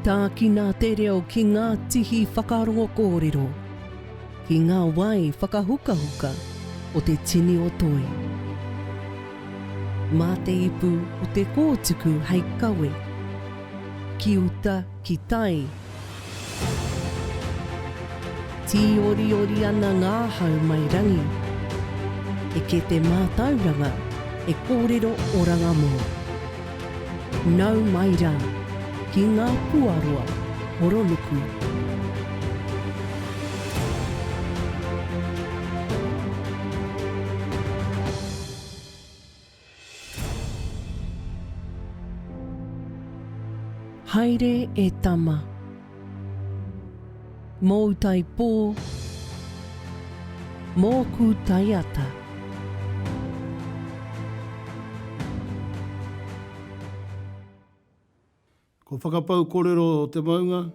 Tākina te reo ki ngā tihi whakarongo kōrero, ki ngā wai whakahukahuka o te tini o Toi. Mā te ipu o te kōtuku hei kawe, ki uta, ki tai, Tīoriori ana ngā hau mai rangi. Eke te mātauranga e kōrero oranga mō. Nau mai rā ki ngā puaroa horonuku. Haere e tama. Mou tai po, moku tai ata. Ko Whakapau Korero o te Maunga,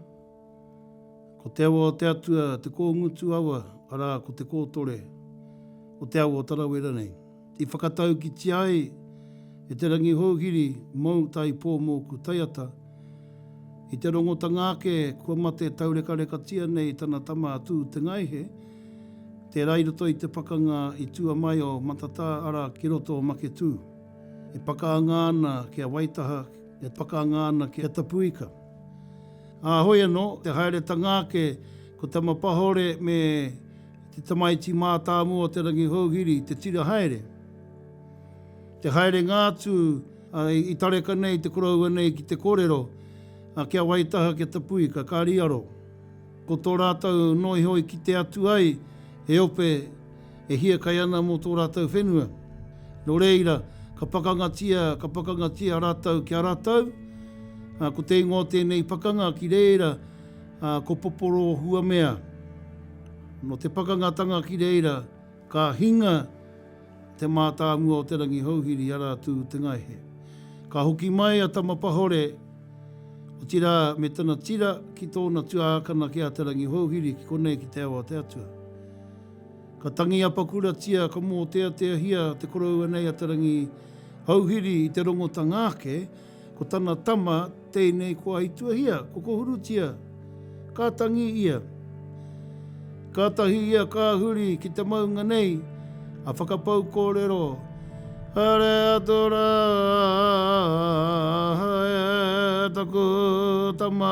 Ko te awa o te Atua te kōngutu awa, arā, ko te kōtore o te awa o Tarawera nei. I whakataukitia ai e Te Rangi Houhiri mou tai pō mōku taiata, i te rongotanga ake kua mate taurekarekatia nei tana tama a Tū Te Ngaihe, tērā i roto i te pakanga i tua mai o Matatā, arā, ki roto o Maketū. E pakaanga ana ki a Waitaha, E pakanga ana ki a Tapuika. Ā, hoi anō, te haeretanga ake, ko Tamapahore me te tamaiti mātāmua o Te Rangihouhiri te tira haere. Te haerenga atu, ā, i tareka nei te koroua nei ki te kōrero, ā, kia Waitaha, kia Tapuika, kāri aro. Ko tō rātou noihoi kite atu ai, he ope, e hiakai ana mō tō rātou whenua. Nō reira, ka pakangatia, ka pakangatia rātou ki a rātou, ā, ko te ingoa o tēnei pakanga ki reira, ā, ko Poporo Huamea. Nō te pakangatanga ki reira, ka hinga te mātāmua o Te Rangihouhiri, arā Tū-te-ngaihe. Ka hoki mai a Tamapahore, otirā, me tana tira ki tōna tuākana ki a Te Rangihouhiri, ki konei ki Te Ao-a-te-atua. Ka tangi apakuratia, ka mōteateahia te koroua nei a Te Rangi Houhiri i te rongotanga ake, ko tana tama tēnei kua ituahia, ko Kohurutia. Ka tangi ia. Kātahi ia ka huri ki te maunga nei, a whakapau kōrero, Haere atu rā e taku tama.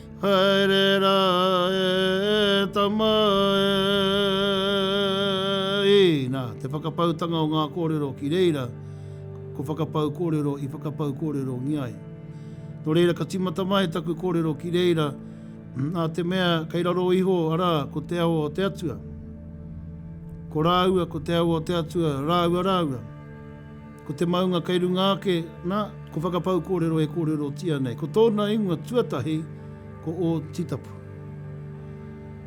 Haere rā e tama e. Nā, te whakapautanga o ngā kōrero ki reira, ko whakapau kōrero i whakapau kōrerongia ai. Nō reira ka tīmata mai taku kōrero ki reira, nā te mea kei raro iho, arā, ko te awa o te Atua. Ko rāua, ko te awa o te Atua, rāua rāua. Ko te maunga kei runga ake, nā, ko Whakapau kōrero e kōrerotia nei. Ko tōna ingoa tuatahi ko Ōtitapu.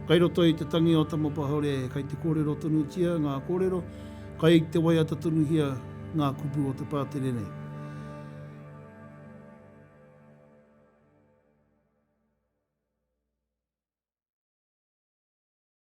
Kai roto i te tangi o Tamapahaore kai te kōrero tonutia ngā kōrero, kai te waiata tonuhia ngā kupu o te pātere nei.